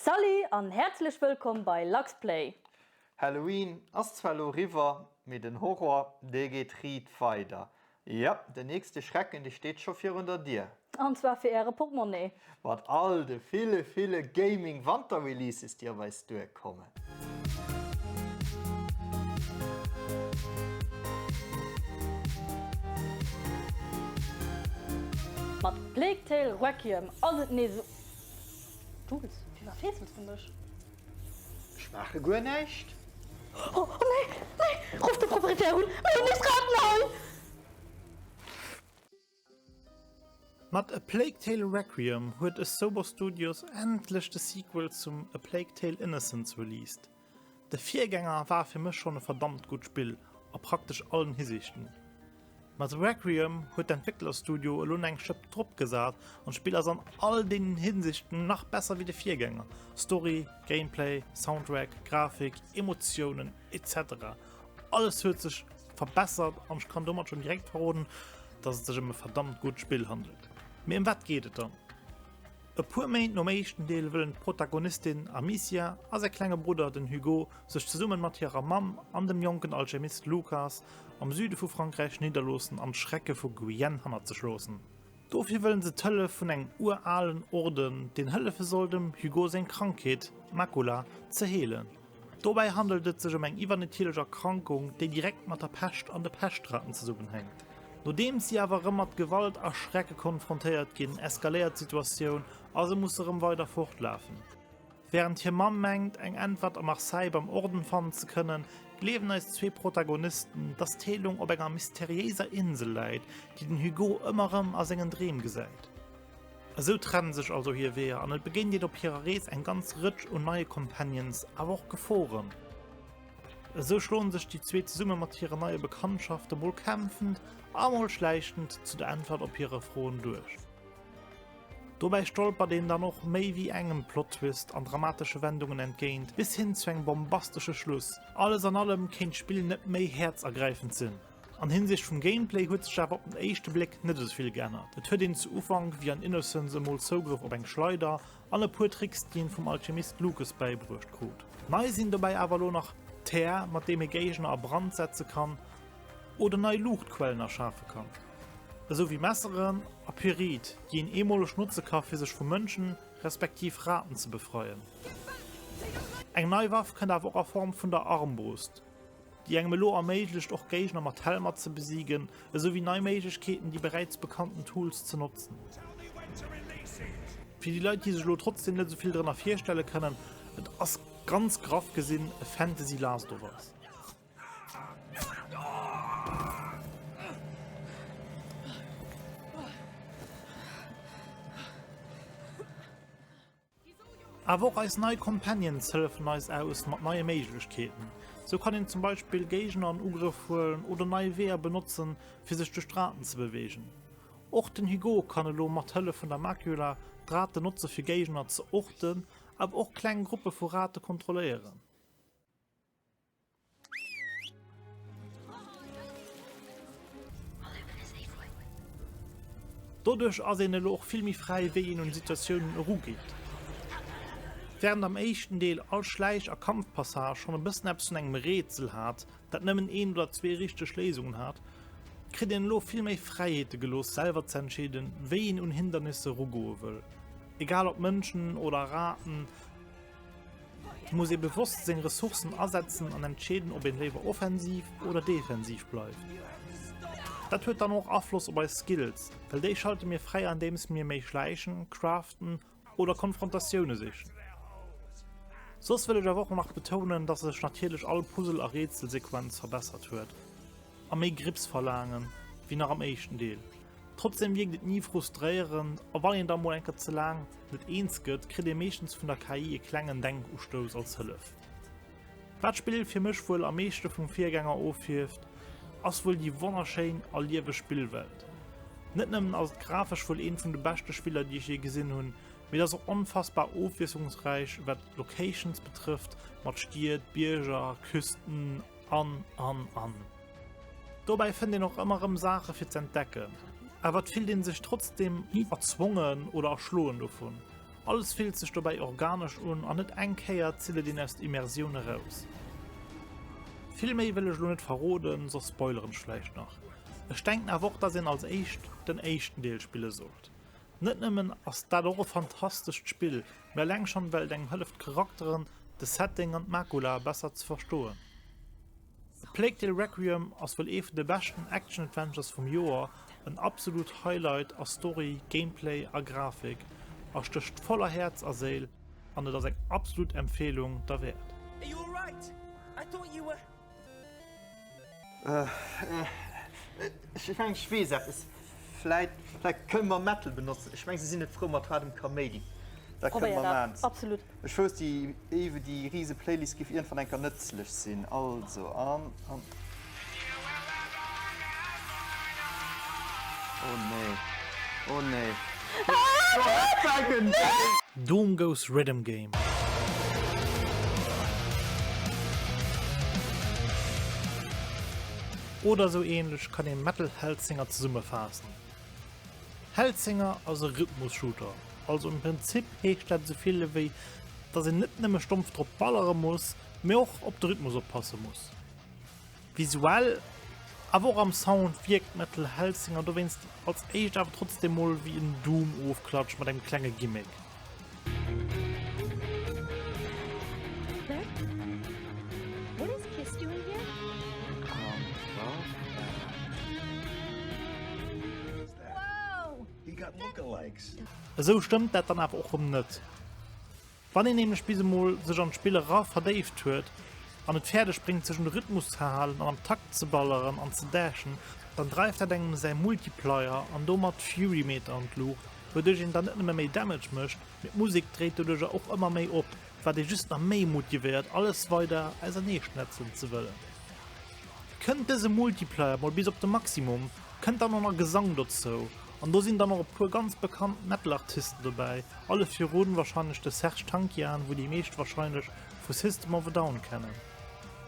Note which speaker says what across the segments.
Speaker 1: Salut an häerzlech wëllkomm bei Luxplay! Halloween
Speaker 2: ass zwar lo riwwer, mee den Horror dee geet riit weider. Jo, den nächste Schrecken dee steet scho virun der Dier. An zwar fir äre
Speaker 1: Portmonnee. Mat all de
Speaker 2: ville ville Gaming Wanterreleases déi op eis duer kommen.
Speaker 1: Mat Plague Tale Requiem ass et nees esou. Jules, firwat feesels du mech? Ech
Speaker 2: maache guer näischt. Oh
Speaker 1: nee, nee! Ruff de Proprietär un, mir hunn nees Raten hei!
Speaker 3: Mat A Plague Tale Requiem huet Asobo Studios endlech de Sequel zum A Plague Tale Innocence released. De Virgänger war fir mech schonn e verdammt gutt Spill a praktesch allen Hisiichten. Ma The Requiem huet d'Entwécklerstudio elo nach eng Schëpp drop gesat an d'Spill ass an all deenen Hinsichten nach besser wéi de Virgänger, Story, Gameplay, Soundtrack, Grafik, Emotiounen, etc. Alles huet sech verbessert an ech kann domat schonn direkt verroden, dass et sech ëm e verdammt gutt Spill handelt. Mee ëm wat geet et dann? E puer Méint nom éischten Deel wëllen d'Protagonistin Amicia a säi klenge Brudder, den Hugo, sech zesumme mat hirer Mamm an dem jonken Alchemist Lucas am Süde vu Frankräich nidderloossen an d'Schrecke vu Guyenne hannert sech loossen. Dofir wëllen se d'Hëllef vun engem uralen Orden, deen hëllefe soll, dem Hugo seng Krankheet, d'Macula, ze heelen. Dobäi handelt et sech ëm eng iwwernatierlech Erkrankung, déi direkt mat der Pescht an de Peschtraten zesummenhänkt. Nodeems si awer erëm mat Gewalt a Schrecke konfrontéiert ginn, eskaléiert d'Situatioun a se musse erëm weider fortlafen. Wärend hir Mamm mengt, eng Äntwert a Marseille beim Orden fannen ze kënnen, gleewen eis zwee Protagonisten, dass d'Heelung op enger mysteriéiser Insel läit, déi den Hugo ëmmer erëm a sengen Dreem gesäit. Esou trennen sech also hir Weeër an et begéint een op hirer Rees eng ganz Rëtsch un neie Companions, awer och Geforen. Esou schloen sech déi zwee zesumme mat hire neie Bekanntschafte mol kämpfend a mol schläichtend zu der Äntwert op hire Froen duerch. Dobäi stolpert een dann och méi wéi engem Plottwist an dramatesche Wendungen entgéint, bis hin zu engem bombastesche Schluss. Alles an allem kéint d'Spill net méi häerzergräifend sinn. An Hinsicht vum Gameplay huet sech awer op den éischte Bléck net esou vill geännert. Et huet een zu Ufank wéi an Innocence emol Zougrëff op eng Schleider an e puer Tricks déi een vum Alchemist Lucas bäibruecht krut. Nei sinn dobäi awer elo nach d'Här mat deem ee Géigner a Brand setze kann oder nei Luuchtquellen erschafe kann, esou wéi Messeren a Pyrit déi een eemoleg notze ka fir sech vu Mënschen respektiv Raten ze befreien. Eng nei Waff kënnt awer och a Form vun der Armbrust. déi engem elo erméiglecht och Géigner mat Helmer ze besigen, esou wéi nei Méiglechkeeten déi beräits bekannten Tools ze notzen. Fir déi Leit déi sech elo trotzdem net esou vill drënner virstelle kënnen, et ass ganz graff gesinn e Fantasy Last of Us. Awer och eis nei Companions hëllefen eis aus mat neie Méiglechkeeten. Sou kann een zum Beispill Géigner an Ugrëff huelen oder nei Weeër benotzen, fir sech duerch d'Raten ze beweegen. Och den Hugo kann elo mat Hëllef vun der Macula d'Raten notze fir Géigner ze orten, awer och kleng Gruppe vu Rate kontrolléieren. Doduerch ass een elo och vill méi fräi, wéi een un d'Situatiounen erugeet. Während am éischten Deel all Schläich a Kampfpassage schonn e bëssen eppes vun engem Rätsel hat, dat nëmmen een oder zwee richteg Léisungen hat, kritt een elo vill méi Fräiheete gelooss, selwer ze entscheeden, wéi een un Hindernisse erugoe wëll, egal ob Mënschen oder Raten. Et muss ee bewosst seng Ressourcen asetzen an entscheeden, ob een léiwer offensiv oder defensiv bleift. Dat huet dann och Afloss op eis Skills, well déi schalte mir fräi andeems mir méi schläichen, craften oder Konfrontatioune sichen. Soss wëll ech awer och nach betounen, dass sech natierlech all Puzzle a Rätselsequenz verbessert huet. a méi Grips verlaangen, wéi nach am éischten Deel. Trotzdeem wierkt et ni frustréierend, a wann een da mol eng Kéier ze laang net eens gëtt, kritt ee meeschtens vun der KI e klengen Denkustouss als Hëllef. Wat d'Spill fir mech wuel am meeschte vum Virgänger ofhieft, ass wuel déi wonnerschéin a lieweg Spillwelt. Net nëmmen ass et grafesch wuel eent vun de beschte Spiller, déi ech jee gesinn hunn, mee et ass och onfassbar ofwiesslungsräich, wat d'Locations betrëfft, mat Stied, Bierger, Küsten, An, an, an. Dobäi fënnt een och ëmmer rëm Saache fir z'entdecken. Awer et fillt ee sech trotzdeem ni erzwongen oder erschloen dovun. Alles fillt sech dobäi organesch un an net eng Kéier zitt et een aus der Immersioun eraus. Vill méi wëll ech elo net verroden, soss spoileren ech vläicht nach. Ech denken awer och, dass een als éischt den éischten Deel spille sollt. Net nëmmen ass dat och e fantastescht Spill, mee eleng schonn well et engem hëlleft d'Charakteren, de Setting an d'Macula besser ze verstoen. A Plague Tale Requiem ass wuel ee vun de beschten Action-Adventures vum Joer, en absolut Highlight a Story, Gameplay a Grafik a stécht voll a Häerz a Séil an et ass eng absolut Empfeelung derwäert.
Speaker 2: Ech mengen ech weess eppes. Vläit kënne mer Mettel benotzen. Ech mengen se sinn net frou mat haardem Kaméidi. Dat kënne mer man. Ech wouss déi éiwe déi riise Playlist giff iergendwann eng Kéier nëtzlech sinn. Also an an. Oh nee, oh nee.
Speaker 3: Doom goes Rhythm Game. Oder esou ähnlech kann ee Metal Hellsinger zesummefaassen. Hellsinger ass e Rhythmus-Shooter, also am Prinzip heescht dat esou vill ewéi dass een net nëmme stompf drop ballere muss, mee och op de Rhythmus oppasse muss. Visuell, awer och am Sound wierkt Metal Hellsinger dowéinst als éischt awer trotzdeem mol wéi en Doom-Ofklatsch mat engem klenge Gimmick.
Speaker 4: Esou stëmmt
Speaker 3: dat dann awer och erëm net. Wann een nämlech bis emol sech an d'Spill era verdéift huet an et fäerdeg bréngt sech un de Rhythmus ze halen an am Takt ze balleren an ze dashen, dann dreift dat engem säi Multiplier an domat d'Fury-Meter an d'Luucht, wouduerch een dann net nëmme méi Damage mécht, mee d'Musek dréit doduercher och ëmmer méi op, wat ee just nach méi motivéiert alles weider ausernee schnetzelen ze wëllen. Kënnt dëse Multiplier mol bis op de Maximum, kënnt dann och nach Gesang dozou an do sinn dann och e puer ganz bekannt Metal-Artisten dobäi, alle virun warscheinlech de Serj Tankian, wou déi meescht warscheinlech vu System of a Down kennen.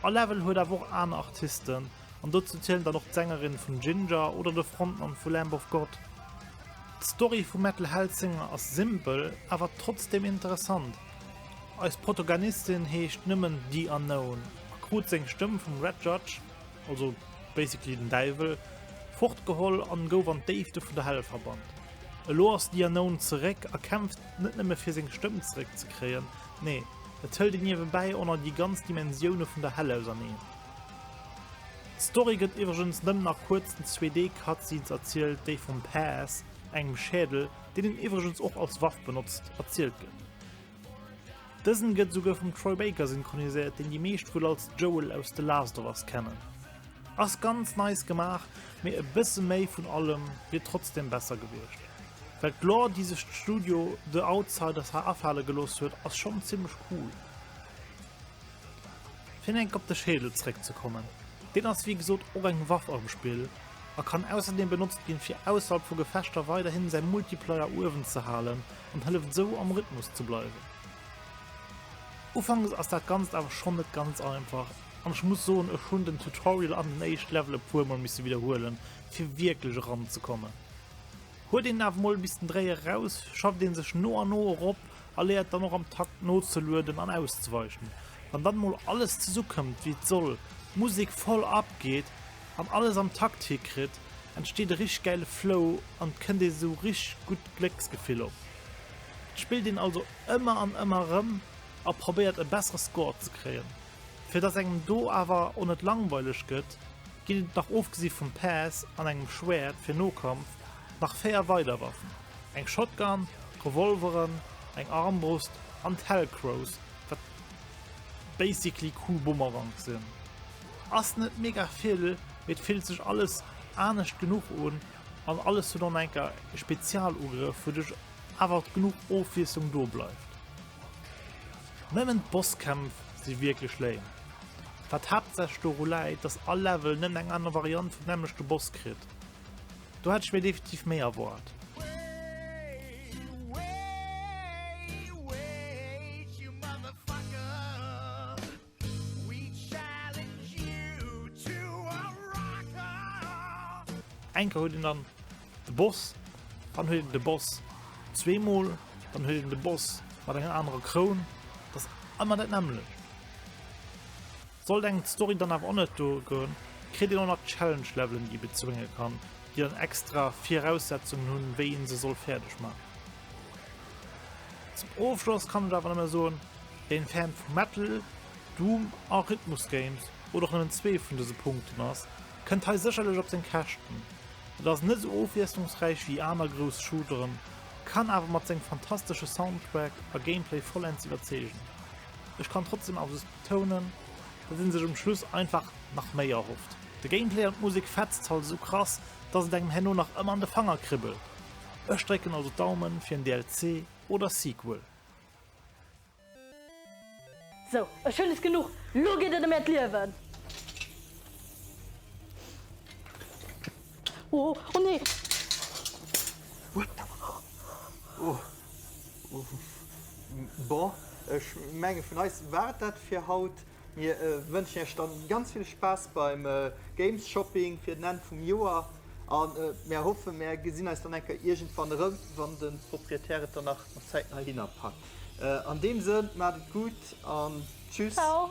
Speaker 3: A-Level huet awer och aner Artisten an dozou zielen dann och d'Sängerin vun Jinjer oder de Frontmann vu Lamb of God. D'Story vum Metal Hellsinger ass simpel awer trotzdeem interessant, eis Protoganistin heescht nëmmen The Unknown a krut seng Stëmm vum Red Judge, also basically den Däiwel, fortgeholl an gouf an d'Déifte vun der Hell verbannt. Elo ass The Unknown zeréck a kämpft net nëmme fir seng Stëmm zeréck ze kréien, nee et hëlt een niewebäi och nach déi ganz Dimensioune vun der Hell auserneen. D'Story gëtt iwwregens nëmmen nach kuerz in 2D Cutscenes erzielt, déi vum Paz, engem Schädel, deen en iwwregens och als Waff benotzt, erzielt gëtt. Dësen gëtt esouguer vum Troy Baker synchroniséiert, deen déi meescht wuel als Joel aus The Last of Us kennen. Ass ganz nice gemaach, mee e bësse méi vun allem wier trotzdem besser gewiescht. Well d'Lore déi sech d'Studio The Outsiders ha afale gelooss huet ass schonn zimmlech cool. Fir enk op de Schädel zeréck ze kommen, deen ass wéi gesot och eng Waff am Spill a kann ausserdeem benotzt ginn fir ausserhalb vu Gefechter weiderhin säi Multiplayer uewen ze halen an hëlleft esou am Rhythmus ze bleiwen. Ufanks ass dat ganzt awer schonn net ganz einfach an ech muss soen ech hunn den Tutorial an den éischt Level e puer mol misse widderhuelen fir wierklech eran ze kommen. Huet een awer mol bis den Dréier eraus, schafft een sech no an no erop a léiert dann och am Takt nozelueden an auszeweichen. Wann dann mol alles zesukëmmt wéi et soll, d'Musek voll abgeet, Wann alles am Takt hikritt, entsteet e richteg gäile Flow an et kënnt ee sou richteg gutt Glécksgefill op. Et spillt een also ëmmer an ëmmer erëm a probéiert e bessere Score ze kréien. Fir dass engem do awer o net langweileg gëtt, ginn et nach ofgesi vum Päss an engem Schwäert fir Nokampf nach 4 weider Waffen, eng Shotgun, Revolveren, eng Armbrust an d'Hellcrows, wat basically cool Bumerangs sinn. Ass net mega vill, mee et fillt sech alles anescht genuch un an alles huet an enker e Spezialugrëff, wouduerch awer genuch Ofwiesslung do bleift. Nëmmen d'Bosskämpf si wierklech lame, wat haaptsächlech doru läit, dass all Level nëmmen eng aner Variant vum nämmlechte Boss kritt. Do hätt ech mir definitiv méi erwaart. Eng Kéier huet een dann de Boss, dann huet een de Boss zweemol, dann huet een de Boss mat enger anerer Kroun. Dat ass ëmmer dat nämmlecht. Sollt eng Story dann awer och net duergoen, kritt een och nach Challenge-Levelen, déi ee bezwénge kann, déi dann extra Viraussetzungen hunn, wéi ee se soll fäerdeg maachen. Zum Ofschloss kann ech awer nëmme soen, Een Fan vu Metal, Doom a Rhythmus Games, oder och nëmmen zwee vun dëse Punkten ass, kënnt hei sécherlech op seng Käschten. Et ass net esou ofwiesslungsräich ewéi aner grouss Shooteren, kann awer mat sengem fantastesche Soundtrack a Gameplay vollends iwwerzeegen. Ech kann trotzdeem awer soss betounen, datt ee sech um Schluss einfach nach méi erhofft. De Gameplay an d'Musek fetzt halt esou krass, datt et engem herno nach ëmmer an de Fanger kribbelt. Ech drécken also d'Daumen fir en DLC oder Sequel.
Speaker 1: Sou, ech hunn es genuch, lo geet et ëm äert Liewen! Oh, oh nee! Oh,
Speaker 2: oh, bon, ech menge vun eis war et dat fir haut. Mir wënschen iech dann ganz vill Spaass beim Games Shopping fir den Enn vum Joer an mär hoffen mär gesinn eis dann eng Kéier iergendwann erëm, wann den Proprietär et dann nach zäitnah hinnerpackt. An deem Sënn, maacht
Speaker 1: et
Speaker 2: gutt an tschüss! Ciao!